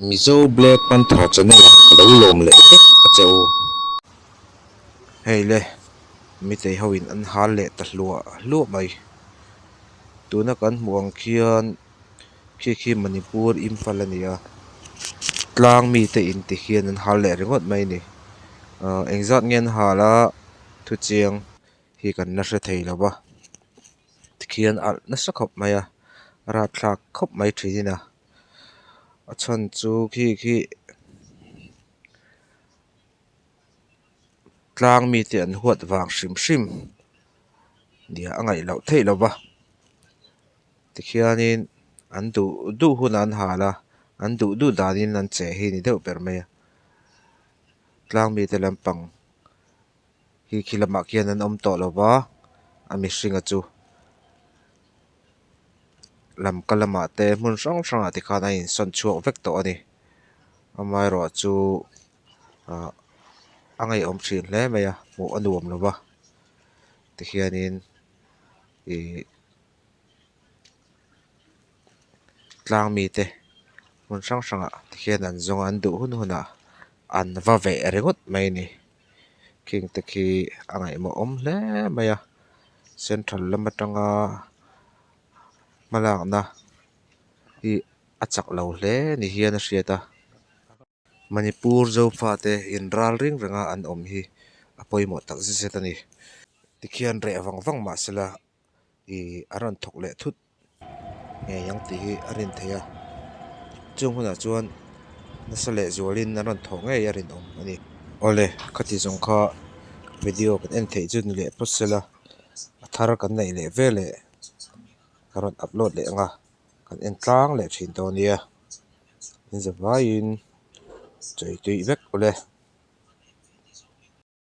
Mizo black panther channel ah ka lo lawm leh vek a che u. Hei le mitei ho in an hal leh ta hluah hluah mai. Tuna kan hmuh ang khian khi khi manipur impal a ni a. Tlang mite in ti khian an hal leh ringawt mai a ni. Ahh eng zat nge an hal a thu chiang hi kan la hre thei lova. Tikhian alh nasa khawp mai a. Rat thlak khawp mai thin ina. a chhan chu khi khi tlang mite an huat vang hrim hrim ni a ngaih loh theih lo va tikhianin an duh duh hunah an hal a an duh duh danin an che hi ni deuh ber mai a tlang mite lampang-- Hi khi lamah khian an awm tawh lo va, a mihringa chu lamka lamah te hmun hrang hrangah te khan a insawn chhuak vek tawh a ni. Amaherawhchu chu ah a ngaihawm thin hle mai a, hmuh a nuam lo va, tikhianin ihh tlang mite hmun hrang hrangah tikhian an zawnga an duh hun hunah an va veh ringawt mai a ni. khingte khi a ngaihmawhawm hle mai a central lam atanga hmalakna hi a chak lo hle ni hian a hriat a manipur zofate inral reng reng a an awm hi a pawimawh tak zet zet a ni tikhian reh vang vang mahsela ihh a rawn thawk leh thut. ngei ang tih hi a rin thei a chung hunah chuan nasa leh zualin a rawn thawh ngei a rinawm a ni awle khati zawng kha video kan en theih chu ni leh pawt se la a thar kan neih leh ve leh ka rawn upload leh ang a kan en tlang leh thin tawh a nia inzawm laiin chawitui vek awle.